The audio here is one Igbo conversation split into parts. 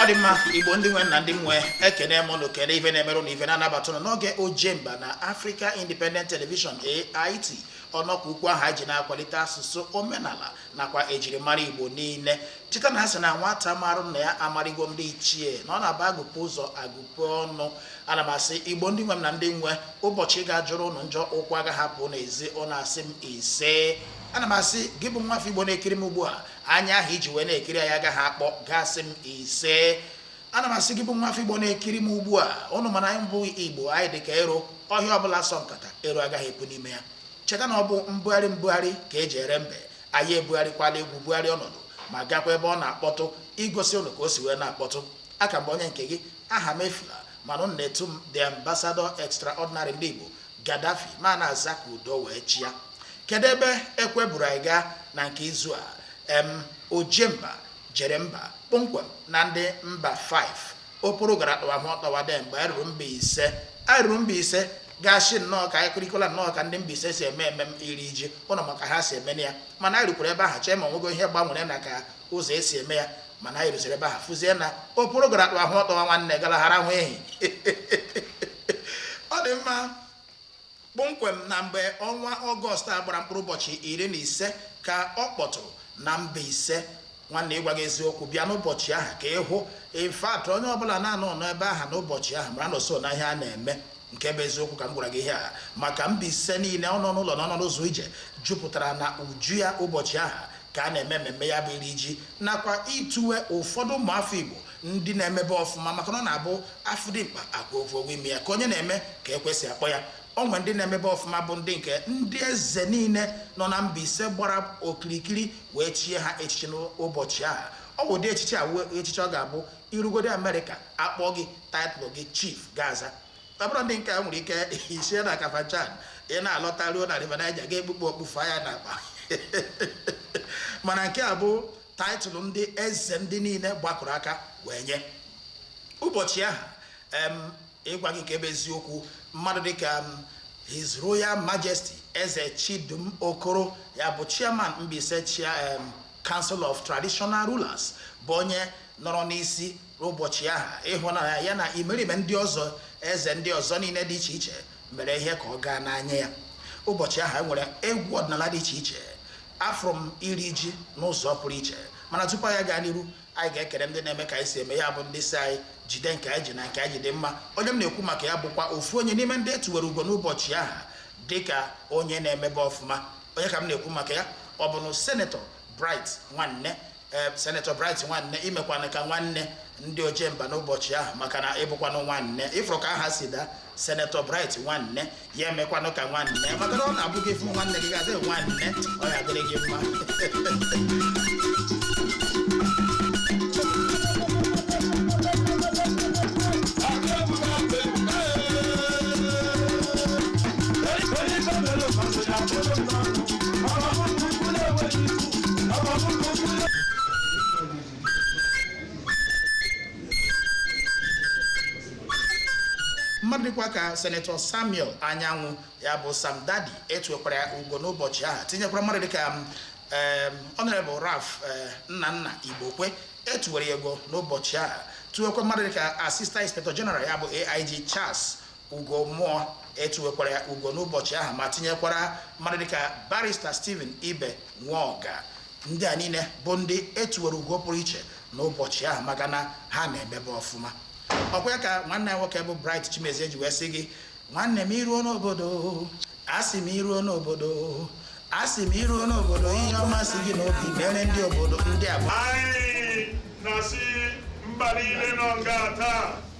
ọ dị mma igbo ndị nwe m na ndị nwe ekene m ụnụ kene ife na-emere ụnụ ife na-anabata ụnụ n'oge ojemba na Africa Independent Television AIT ọnọkwa ukwu ahụ anyị ji na-akwalite asụsụ omenala nakwa ejirimara igbo niile Cheta na a sị na nwata marụ nna ya amarịgo ndị ichie, na ọ na-abụ agụpe ụzọ agụpe ọnụ. Ana m asị Igbo ndị nwe m na ndị nwe, ụbọchị ga-ajọrọ ụnụ njọ, ụkwụ agaghị apụ n'ezi, ụnụ asị m ise. Ana m asị gị bụ nwafọ Igbo na-ekiri m ugbu a, anya ahụ iji wee na-ekiri anyị agaghị akpọ, gị asị m ise. Ana m asị gị bụ nwafọ Igbo na-ekiri m ugbu a, ụnụ ma na anyị bụ Igbo, anyị dị ka ero, ọhịa ọbụla sọ nkata, ero agaghị epu n'ime ya. Cheta na ọ bụ mbugharị mbugharị ka e ji ere mbe. anyị ebugharịkwala egwu bugharị ọnọdụ ma gakwa ebe ọ na-akpọtụ igosi ụnụ ka o si wee na-akpọtụ aka m bụ onye nke gị Ahamefula mana ụnụ na-etu m the ambassador extraordinary ndị Igbo Gaddafi m ana-aza ka udo wee chịa kedu ebe ekwe buru anyị gaa na nke izu a em ojemba jere mba kpọmkwem na ndị Mbaise okporo gara kpawa hụ ọtọwa dị mgbe anyị ruru mbaise anyị ruru mbaise gaa sị nnọọ ka anyị kirikwala nnọọ ka ndị mbaise si eme emem iri ji ụnụ ma ka ha si emenụ ya mana anyị rukwara ebe ahụ chee ma o nwego ihe gbanwere na ka ụzọ e si eme ya mana anyị ruziri ebe ahụ fụzie na okporo gara akpa ahụ ọtọwa nwanne gara hara hụ ehi ọ dị mma Kpọmkwem na mgbe ọnwa Ọgọst a gbara mkpụrụ ụbọchị iri na ise ka ọ kpọtụrụ na Mbaise. Nwanne ịgwa gị eziokwu, bịa n'ụbọchị ahụ ka ị hụ. In fact, onye ọbụla na-anọ n'ebe ahụ n'ụbọchị ahụ mara na o so na ihe a na-eme. Nke bụ eziokwu ka m gwara gị ihe a maka Mbaise niile, ọ nọ n'ụlọ na ọ nọ n'ụzọ ije jupụtara na uju ya ụbọchị ahụ ka a na-eme mmemme ya bụ iri ji nakwa ituwe ụfọdụ ụmụafọ Igbo ndị na-emebe ọfụma maka na ọ na-abụ afụ dimkpa afụ ogwe imi ya ka onye na-eme ka ekwe si akpọ ya o nwe ndị na-emebe ọfụma bụ ndị nke ndị eze niile nọ na mbaise gbara okirikiri wee chie ha echichi n'ụbọchị ahụ ọ bụ ụdị echichi a wee echichi ọ ga-abụ i rugodi amerịka akpọ gị taịtlụ gị chief gị aza ọ bụrọ ndị nke a nwere ike isi na kafanchan ị na-alọta ruo na river Niger gị ekpupụ okpu fanye na akpa mana nke a bụ taịtụlụ ndị eze ndị niile gbakọrọ aka wee nye ụbọchị ahụ em, ịgwa gị nke bụ eziokwu mmadụ dịka em, his royal majesty eze chidume okoro ya bụ chairman mbaise chia em, council of traditional rulers bụ onye nọrọ n'isi N'ụbọchị ahụ, ịhụnanya ya na imerime ndị ọzọ eze ndị ọzọ niile dị iche iche mere ihe ka ọ gaa n'anya ya. Ụbọchị ahụ, e nwere egwu ọdịnala dị iche iche. Afụrụ m iri ji n'ụzọ pụrụ iche. Mana tupu anyị gaa n'iru, anyị ga-ekele ndị na-eme ka anyị si eme ya bụ ndị sị anyị jide nke anyị ji na nke anyị ji dị mma. Onye m na-ekwu maka ya bụkwa ofu onye n'ime ndị etuwere ugo n'ụbọchị ahụ dịka onye na-emebe ọfụma. Onye ka m na-ekwu maka ya? Ọ bụnụ Senetọ Bright Nwanne ee Senator Bright Nwanne imekwanụ ka nwanne ndị ojemba n'ụbọchị ahụ maka na ịbụkwanụ nwanne ịfụrụ ka aha si daa Senator Bright Nwanne ya emekwanụ ka nwanne maka na ọ na-abụ gị fụ nwanne gị ga-adị nwanne ọ ya adịrị gị mma mmadụ dịkwa ka senetọ samuel anyanwụ ya bụ sam daddy etuwekwara ya ugo n'ụbọchị ahụ tinyekwara mmadụ dịka ọnọrebụ raf nnanna igbokwe etuwere ya ugo n'ụbọchị ahụ tuwekwa mmadụ dịka assistant inspector general ya bụ aig charles Ugomuoh etuwekwara ya ugo n'ụbọchị ahụ ma tinyekwara mmadụ dịka barista Stephen Ibe Nwoga ndị a niile bụ ndị etuwere ugo pụrụ iche n'ụbọchị ahụ maka na ha na-emebe ọfụma ọkwa ya ka nwanne ya nwoke bụ Bright Chimezie ji wee sị gị nwanne m iruo n'obodo asị m iruo n'obodo asị m iruo n'obodo ihe ọma si gị n'obi mere ndị obodo ndị a bụ anyị na-asị mba niile nọ nga taa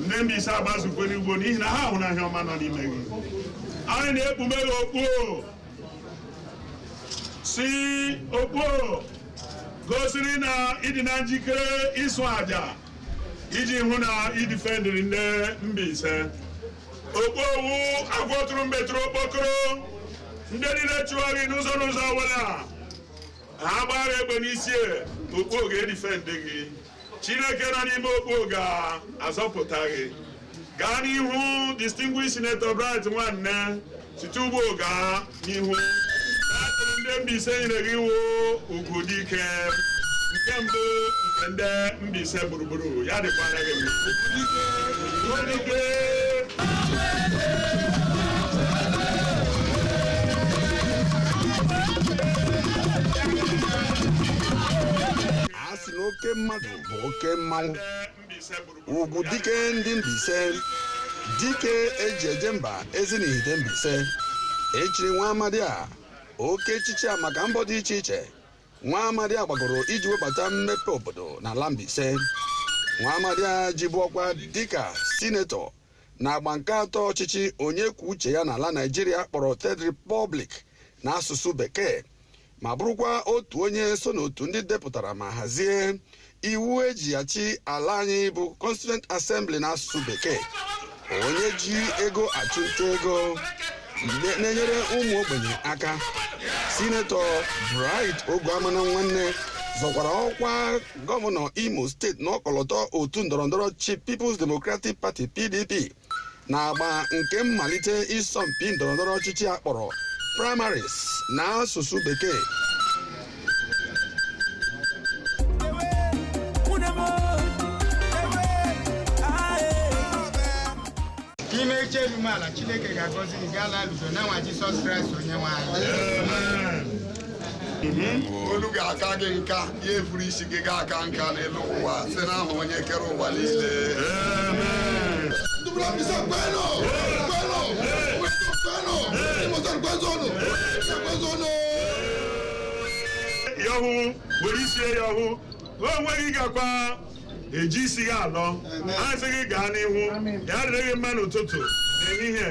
ndị Mbaise agbazukwe n'ugbo n'ihi na ha hụrụ na ihe ọma nọ n'ime gị anyị na-ekpume gị okpu sị okpu gosiri na ịdị na njikere ịsụ aja iji hụ na idifendịrị ndị Mbaise okpu o wụ agwọ tụrụ mbe tụrụ okpokoro ndị niile chụwa gị n'ụzọ n'ụzọ ọbụla ha gbara egbe n'isi okpu ga-edifendị gị Chineke nọ n'ime okpu o ga-azọpụta gị. Gaa n'ihu Distinguished Senator Bright Nwanne site ugbu o gaa n'ihu. Title ndị Mbaise nyere gị wụ ugwu dị ike nke mbụ nke ndị Mbaise gburugburu ya dịkwara gị mma. si na oke mmadụ bụ oke mmanwụ ugwu dike ndị Mbaise dike eji eje mba Ezinihitte Mbaise echiri nwa amadi a oke echichi a maka mbọ dị iche iche nwa amadi a gbagoro iji webata mmepe obodo n'ala Mbaise nwa amadi a jibu ọkwa dịka sinetọ na agba nke atọ ọchịchị onye kwuo uche ya n'ala Naijiria a kpọrọ Third Republic n'asụsụ bekee ma bụrụkwa otu onye so n'otu ndị depụtara ma hazie iwu eji achị ala anyị bụ Constituent Assembly n'asụsụ bekee onye ji ego achụnta ego na-enyere ụmụ ogbenye aka sinetọ Bright Oguamanam Nwanne zọkwara ọkwa gọvanọ Imo steeti n'ọkọlọtọ otu ndọrọndọrọ ọchịchị People's Democratic Party PDP n'agba nke mmalite ịsọmpi ndọrọndọrọ ọchịchị a kpọrọ primaries na asụsụ bekee n'ime eche emume ala chineke ga-agọzi gị gaa n'udo n'aha jisọs kraịst onye nwe anyị olu ga-aka gị nka ya efuru isi ị ga-aka nka n'elu ụwa site n'aha onye kere ụwa niile ya hụ were isi ya hụ onwe ị gakwa eji isi gị alọ asị gị gaa n'ihu ya adịrị gị mma n'ụtụtụ n'ehihie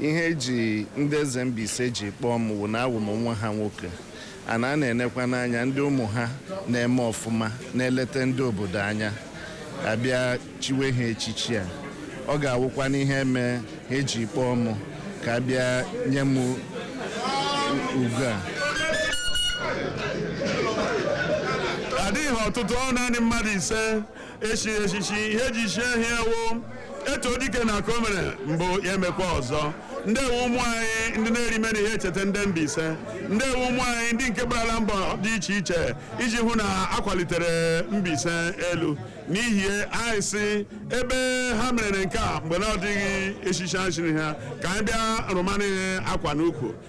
ihe eji ndị eze Mbaise ji kpọọ m wụ na awụ m nwa ha nwoke ana a na-elekwa n'anya ndị ụmụ ha na-eme ọfụma na-eleta ndị obodo anya abịa chiwe ha echichi a ọ ga-awụkwa n'ihe eme ha eji kpọọ m ka abịa nye m ugo a adịghị ọtụtụ ọ naanị mmadụ ise echiri echichi ihe eji chie ha wụ eto dike na nke o mere mbụ ya emekwa ọzọ ndị a wụ ụmụ anyị ndị na-erime na ihe echeta ndị Mbaise ndị a wụ ụmụ anyị ndị nke gbarala mbọ dị iche iche iji hụ na akwalitere Mbaise elu n'ihi ya anyị sị ebe ha mere nke a mgbe na ọ dịghị echichi echiri ha ka anyị bịa rụmana ha akwa n'ukwu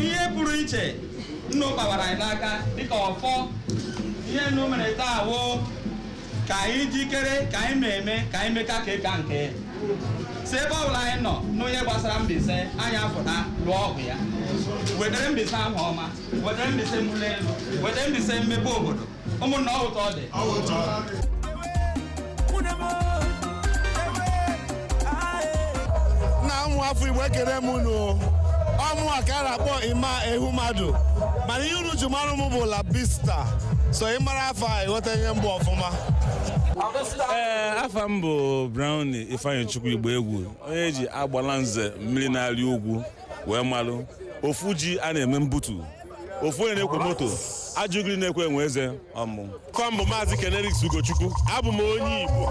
ihe pụrụ iche unu kpawara anyị n'aka dịka ọfọ ihe unu mere taa wụ ka anyị jikere ka anyị na-eme ka anyị meka ka ịka nke si ebe ọ bụla anyị nọ nụ ihe gbasara Mbaise anyị apụta lụọ ọgụ ya wetara Mbaise aha ọma wetara Mbaise mbuli elu wetara Mbaise mmepe obodo ụmụnna ọ ụtọ ọ dị na ụmụ afọ igbo ekele m unu ọ mụa ka a na-akpọ emma ehumadu mana ihe unu ji mara m bụ labista so ị mara afa a ị ghọta ihe m bụ ọfụma ee afa m bụ browny ifeanyịchukwu igboegwu onye e ji agbalanze mmiri na-arị ugwu wee malụ ofu ji a na-eme mbutu ofu onye na-ekwo moto ajụgiri na-ekwe enwe eze ọ mụ bụ maazị ken erics ugochukwu abụ m onye igbo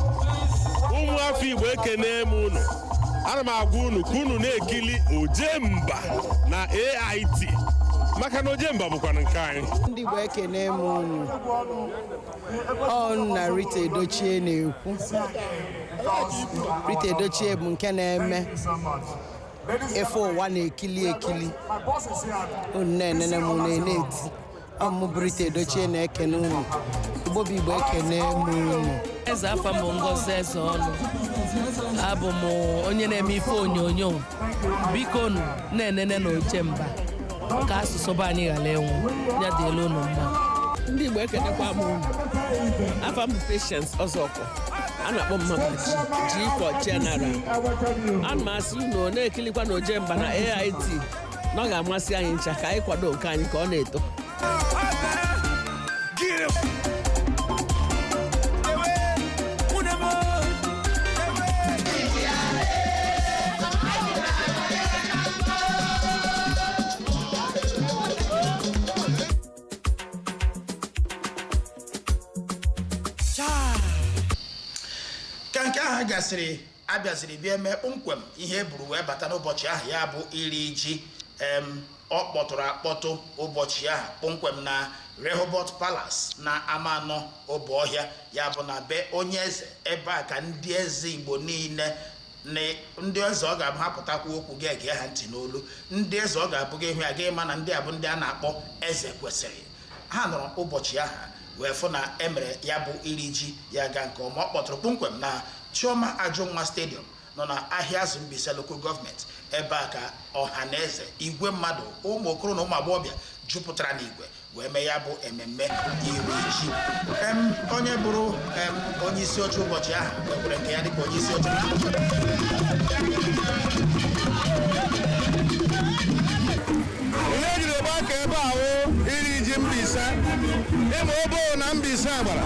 ụmụ afọ igbo ekene m unu ana m agwa unu ka unu na-ekili ojemba na ait maka na ojemba bụkwanụ nke anyị ndị igbo ekene m unu ọ mụnwa rita edochie na-ekwu rita edochie bụ nke na-eme ife ụwa na-ekili ekili unu na-enene m na ait ọ mụ bụ rita edochie na-ekene unu igbo bụ igbo ekene m unu ezi afa m bụ ngozi ezeọnụ abụ m onye na-eme ife onyonyo bikonụ na-enenenụ ojemba ka asụsụ be anyị ghara ịnwụ ya dịlị unu mma ndị igbo ekenekwa m unu afa m bụ Patience Ọzọkwọ a na-akpọ m mama G G for general ana m asị unu na-ekilikwanụ ojemba na AIT na ọ ga-amasị anyị ncha ka anyị kwado nke anyị ka ọ na-eto ka nke ahụ gasịrị a bịaziri bịa eme kpọmkwem ihe e buru wee bata n'ụbọchị ahụ ya bụ iri ji em ọ kpọtụrụ akpọtụ ụbọchị ahụ kpọmkwem na Rehoboth Palace na Amaanọ Obohịa ya bụ na be onye eze ebe a ka ndị eze Igbo niile na ndị eze ọ ga-abụ ha pụta kwuo okwu gị egee ha ntị n'olu ndị eze ọ ga-abụ gị hụ ha gị ma na ndị a bụ ndị a na-akpọ eze kwesịrị ha nọrọ ụbọchị ahụ wee fụ na e mere ya bụ iri ji ya gaa nke ọma ọ kpọtụrụ kpọmkwem na chioma ajụnwa stadium nọ na Ahịazụ Mbaise lokal gọọmenti ebe a ka ọha na eze igwe mmadụ ụmụ okoro na ụmụ agbọghọbịa jupụtara n'igwe wee mee ya bụ ememme iri ji Em, onye bụrụ em, onye isi oche ụbọchị ahụ wekwere nke ya dịka onye isi oche ihe e jiri gbakọ ebe a wụ iri ji Mbaise ịma obo na Mbaise gbara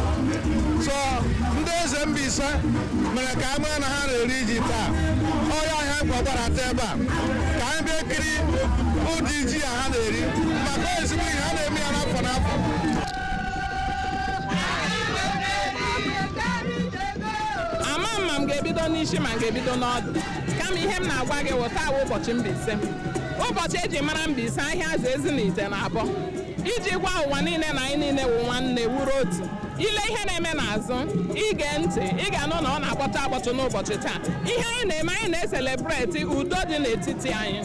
so ndị eze Mbaise mere ka a ma na ha na-eri ji taa ọ ya ahịa nkwọ gbara taa ebe a ka anyị bịa kiri ụdị ji a ha na-eri maka ezigbo ihe a na-eme ya n'afọ n'afọ ama m ma m ga-ebido n'isi ma m ga-ebido n'ọdụ kama ihe m na-agwa gị wụ taa wụ ụbọchị Mbaise ụbọchị e ji mara Mbaise Ahịazụ Ezinihitte na Abọ iji gwa ụwa niile na anyị niile wụ nwanne wụrụ otu ị lee ihe na-eme n'azụ ị gee ntị ị ga-anụ na ọ na-akpọtụ akpọtụ n'ụbọchị taa ihe anyị na-eme anyị na-eselebreti udo dị n'etiti anyị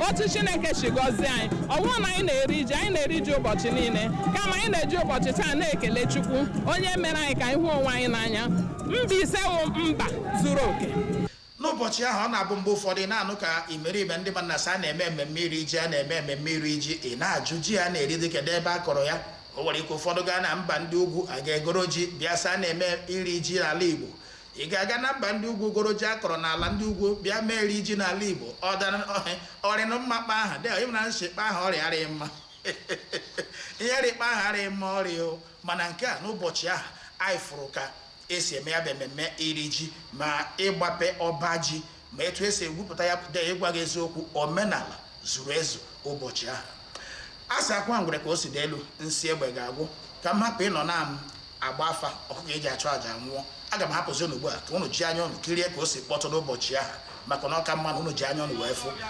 otu chineke si gọzie anyị ọ bụrụ na anyị na-eri ji anyị na-eri ji ụbọchị niile kama anyị na-eji ụbọchị taa na-ekele chukwu onye mere anyị ka anyị hụ onwe anyị n'anya Mbaise wụ mba zuru oke n'ụbọchị ahụ ọ na-abụ mgbe ụfọdụ ị na-anụ ka imerime ndị mmadụ na-asị a na-eme mmemme iri ji a na-eme mmemme iri ji ị na-ajụ ji a na-eri dị kedu ebe a kọrọ ya o nwere ike ụfọdụ gaa na mba ndị ugwu a ga-egoro ji bịa sị a na-eme iri ji n'ala igbo Ị ga-aga na mba ndị ugwu goro ji a kọrọ n'ala ndị ugwu bịa mee iri ji n'ala Igbo ọ dara ọhị- ọ rịnụ mma kpa aha dị ị mara na nshikpa aha ọrịa arịghị mma ihe rị kpa aha arịghị mma ọrịa o mana nke a n'ụbọchị ahụ anyị fụrụ ka e si eme ya bụ ememme iri ji ma igbape ọba ji ma etu e si egwupụta ya pụta ịgwa gị eziokwu omenala zuru ezu ụbọchị ahụ a sị a kwaa ngwere ka o si ada elu nsi egbe ga-agwụ ka m hapụ ịnọ na m agba afa ọkụkọ e ji achụ àjà nwụọ aga m ahapụzi unu ugbu a ka unu ji anya unu kirie ka o si kpọtụ n'ụbọchị ahụ maka na ọ ka mma na unu ji anya unu wee fụ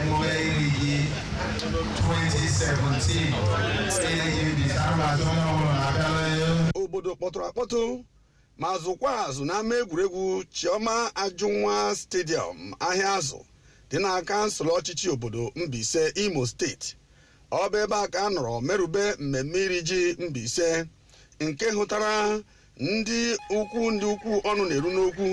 emume iri ji 2017 na-eji bita mmasị onye ọbụla na-abịala ya obodo kpọtụrụ akpọtụ ma zụkwa azụ n'ama egwuregwu chioma ajụnwa stadium Ahịazụ dị na kansụl ọchịchị obodo mbaise imo steeti ọ bụ ebe a ka a nọrọ merube mmemme iri ji mbaise nke hụtara ndị ukwu ndị ukwu ọnụ na-eru n'okwu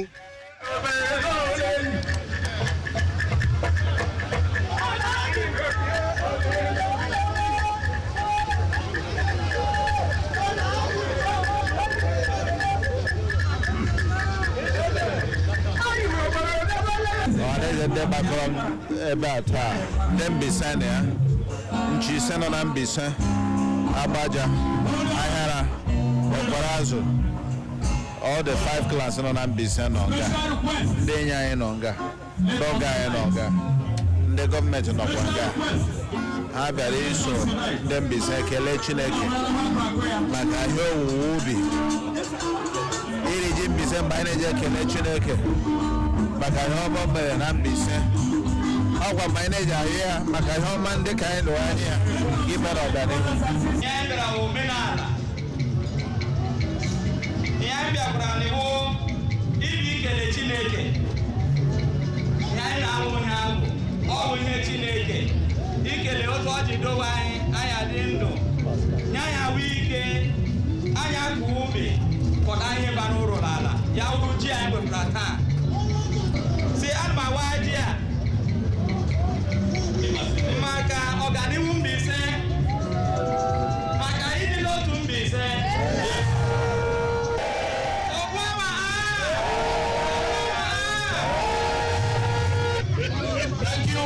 ọhaneze ndị gbakọrọ ebe a taa ndị Mbaise na ya Nchi ise nọ na Mbaise, Agbaja, Ahịara, Ekwerazụ, all the five clans nọ na Mbaise nọ nga, ndị enyi anyị nọ nga, ndị ọgọ anyị nọ nga, ndị gọọmenti nọkwa nga. Ha bịara iso ndị Mbaise kelee Chineke maka ihe owuwe ubi iri ji Mbaise mgbe anyị na-eji ekele Chineke maka ihe ọma o mere na Mbaise ọkwa mgbe anyị na-eji ayọ ya maka ihe ọma ndị ka anyị tụrụ anya ya nke mere ọganihu Ihe anyị bịara bụ omenala. Ihe anyị bịakwara na ọ wụ ikele Chineke. Ihe anyị na-amụ ihe ahụ, ọ wụ ihe Chineke. Ikele otu o ji dowe anyị, anyị adị ndụ. anyị ahụ ike anyị akọọ ubi kọta ihe bara uru n'ala ya wụrụ ji anyị wepụtara taa sị ana m awa ji a maka ọganihu Mbaise maka ịdị n'otu Mbaise Okwu ama a! Okwu ama a! Thank you.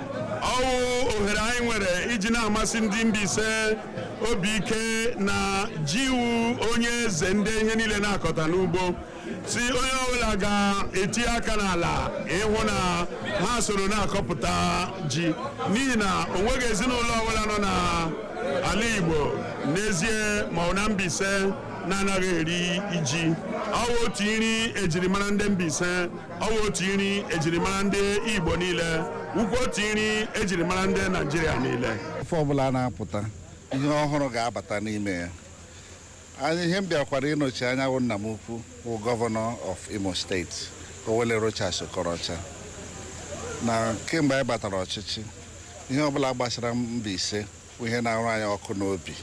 ọwụ ohere anyị nwere iji na-amasi ndị Mbaise obi ike na ji wụ onye eze nde ihe niile na-akọta n'ugbo sị onye ọwụla ga-eti aka n'ala ịhụ na ha soro na-akọpụta ji n'ihi na o nweghị ezinụlọ ọwụla nọ na ala Igbo n'ezie ma ọ wụ na Mbaise na-anaghị eri ji ọwụ otu nri ejirimara nde Mbaise ọwụ otu nri ejirimara ndị Igbo niile wụkwa otu nri ejirimara ndị Naijiria niile afọ ọbụla a na-apụta ihe ọhụrụ ga-abata n'ime ya onye m bịakwara ịnọchi anya wụ nna m ukwu wụ governor of Imo State Owelle Rochas Okorocha na kemgbe anyị batara ọchịchị ihe ọbụla gbasara Mbaise bụ ihe na-arụ anyị ọkụ n'obi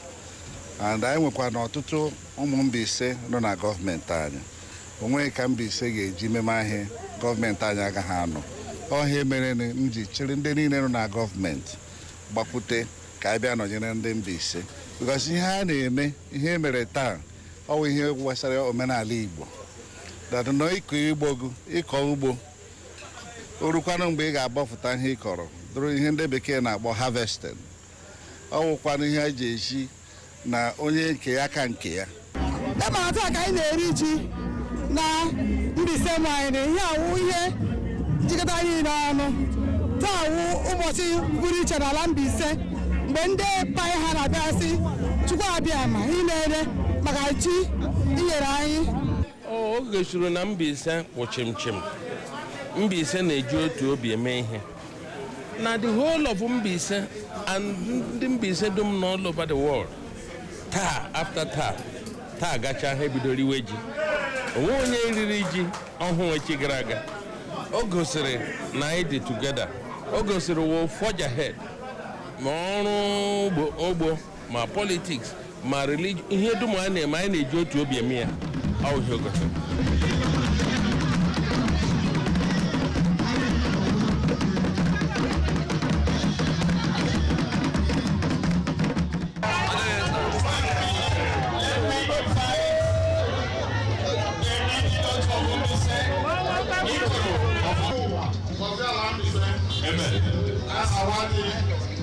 and anyị nwekwara ọtụtụ ụmụ Mbaise nọ na gọọmenti anyị onweghị ka Mbaise ga-eji meme ihe a gọọmenti anyị agaghị anọ ọ ya mere m ji chịrị ndị niile nọ na gọọmenti gbakwute ka anyị bịa nọnyere ndị Mbaise because ihe a na-eme ihe e mere taa ọ wụ ihe gbasara omenala Igbo that na ịkọ ugbo gị ịkọ ugbo o rukwanụ mgbe ị ga-abọpụta ihe ị kọrọ bụrụ ihe nde bekee na-akpọ harvesting ọ wụkwanụ ihe a ji ezi na onye nke ya ka nke ya ebe a taa ka anyị na-eri ji na Mbaise m anyị na ihe a wụ ihe jikọta anyị n'ọnụ taa wụ ụbọchị pụrụ iche n'ala Mbaise mgbe ndị pa ha na-abịa sị Chukwu Abịama imeela maka ji i nyere anyị O gosiri na Mbaise kwụ chịmchịm Mbaise na-eji otu obi eme ihe na the whole of Mbaise and ndị Mbaise dum na all over the world taa after taa taa gacha ha ebido riwe ji onweghị onye riri ji ọhụụ echi gara aga o gosiri na anyị dị together o gosiri we forge ahead ma ọrụ ugbo ma politiks ma religion ihe dum anyị na-eme anyị na-eji otu obi eme ya ọ wụ ihe o gosiri Amen. That's how I did.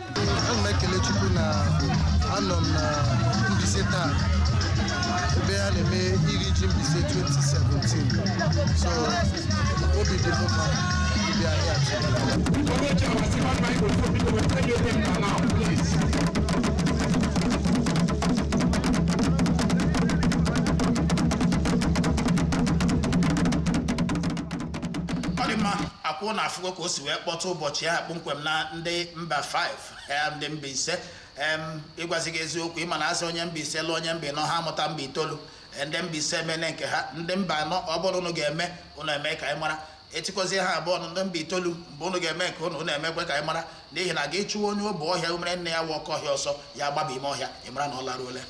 ana m ekele chukwu na anọ m na Mbaise taa ebe a na-eme iri ji Mbaise 2017 so obi dị m mma ịbịa here ọ dị mma ọ kwa unu afụgo ka o si wee kpọtụ ụbọchị ya kpọmkwem na ndị mba 5 em, ndị mba ise em, ịgwazi gị eziokwu ị ma na a sị onye mba ise lụọ onye mba anọ ha amụta mba itoolu E, ndị mba ise emene nke ha ndị mba anọ ọ bụrụ unu ga-eme unu eme ka anyị mara e tikọzie ha abụọ ọnụ ndị mba itoolu mgbe unu ga-eme nke unu unu emekwe ka anyị mara n'ihi na gị chụwa onye Obohia umere nne ya wụ Okohia ọsọ ya agbaba ime ọhịa ị mara na ọ laruole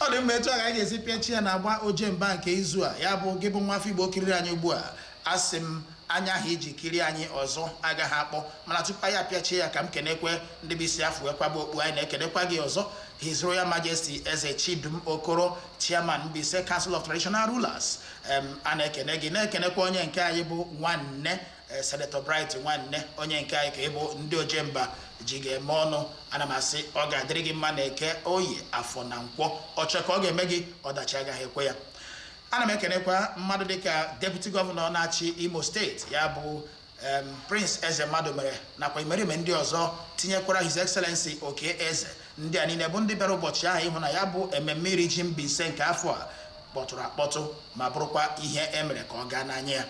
ọ dị mma etu a ka anyị ga-esi pịachi ya n'agba Ojemba nke izu a ya bụ gị bụ nwa afọ igbo kiriri anyị ugbu a Asị m, anya ahụ i ji kirie anyị ọzọ agaghị akpọ. Mana tupu anyị apịachie ya, ka m kenekwe ndị bụ isi a fụ wee kwaba okpu. Anyị na-ekenekwa gị ọzọ, His Royal Majesty Eze Chidume Okoro, Chairman Mbaise Council of Traditional Rulers. Em, a na-ekene gị, na-ekenekwa onye nke anyị bụ nwanne eh, Senator Bright Nwanne onye nke anyị ka ị bụ ndị ojemba ji gị eme ọnụ ana m asị ọ ga-adịrị gị mma n'Eke Oye Afọ na Nkwọ ọ chọọ ka ọ ga-eme gị ọdachi agaghị ekwe ya Ana m ekenekwa mmadụ dịka Deputy Gọvanọ na-achị Imo steeti ya bụ em, Prince Eze Madumere nakwa imerime ndị ọzọ tinyekwara His Excellency Okey Eze ndị a niile bụ ndị bịara ụbọchị ahụ ịhụ na ya bụ ememme iri ji Mbaise nke afọ a kpọtụrụ akpọtụ ma bụrụkwa ihe e mere ka ọ gaa n'anya ya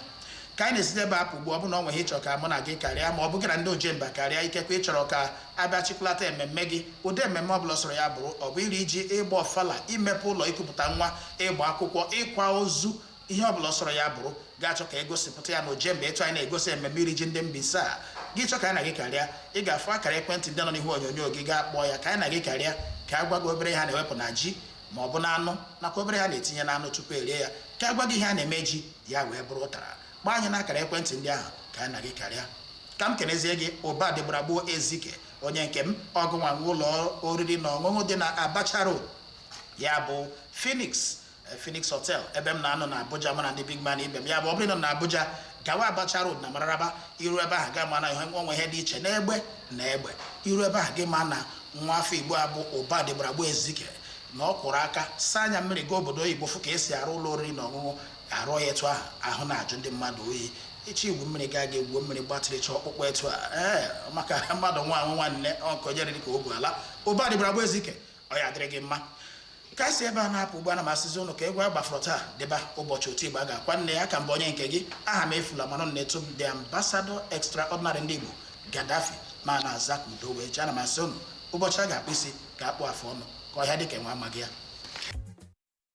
ka anyị na-esite ebe a apụ ugbu a ọ bụrụ na o nwee ihe ị chọ ka mụ na gị karịa ma ọ bụ gị na ndị ojemba karịa ikekwe ị chọrọ ka A bịa chịkọlata ememme gị, ụdị ememme ọ bụla ọ sọrọ ya bụrụ, ọ bụ iri ji, ịgba ọfala, imepe ụlọ, ikupụta nwa, ịgba akwụkwọ, ịkwa ozu, ihe ọ bụla ọ sọrọ ya bụrụ, gị achọọ ka e gosipụta ya n'Ojemba etu anyị na-egosi ememme iri ji ndị Mbaise a. Gị chọọ ka anyị na gị karịa, ị ga-afụ akara ekwentị ndị nọ n'ihu onyonyo gị, gaa kpọọ ya ka anyị na gị karịa, ka a gwa gị obere ihe a na-ewepụ na ji ma ọ bụ n'anụ nakwa obere ihe a na-etinye n'anụ tupu e rie ya, ka a gwa gị ihe a na-eme ji, ya wee bụrụ ụtara. kpọọ anyị n'akara ekwentị ndị ahụ ka anyị na gị kparịa ka m kenezie gị ụba dịgbara gboo ezike onye nke m ọ gụnwa nwe ụlọ oriri na ọṅụṅụ dị na abacha road ya bụ phoenix eh, phoenix hotel ebe m na-anọ na abuja mụ na ndị big man ibe m ya bụ ọ bụrụ na ị nọ abuja gawa abacha road na mararaba i ru ebe ahụ gị ama na ihe o nwe ihe dị iche n'egbe na egbe i ru ebe ahụ gị ama na nwa afọ igbo abụ ụba dịgbara gboo ezike na ọ kwọrọ aka saa anya mmiri gaa obodo oyibo fụ ka e si arụ ụlọ oriri na ọṅụṅụ arụọ ya etu ahụ ahụ na-ajụ ndị mmadụ oyi ị chọọ igwu mmiri gaa ga egwuo mmiri gbatịrịcha ọkpụkpọ etu a ee maka mmadụ nwa anwụ nwanne ọnkonyere dịka ogwu ala ụba dịgbara gboo ezike ọ ya-adịrị gị mma ka anyị si ebe a na-apụ ugbu a ana m asịzi ụnụ ka egwu a gbafọrọ taa dịba ụbọchị oti ịgba ga-akwa nne ya ka m bụ onye nke gị ahamefula mana nna etu m dị ambassador extraordinary ndị igbo gadafi m na-aza ka udo wee jee ana m asị ụnụ ụbọchị a ga-akpụ isi a ga-akpụ afụ ọnụ ka ọhịa dịka enwe amaghị ya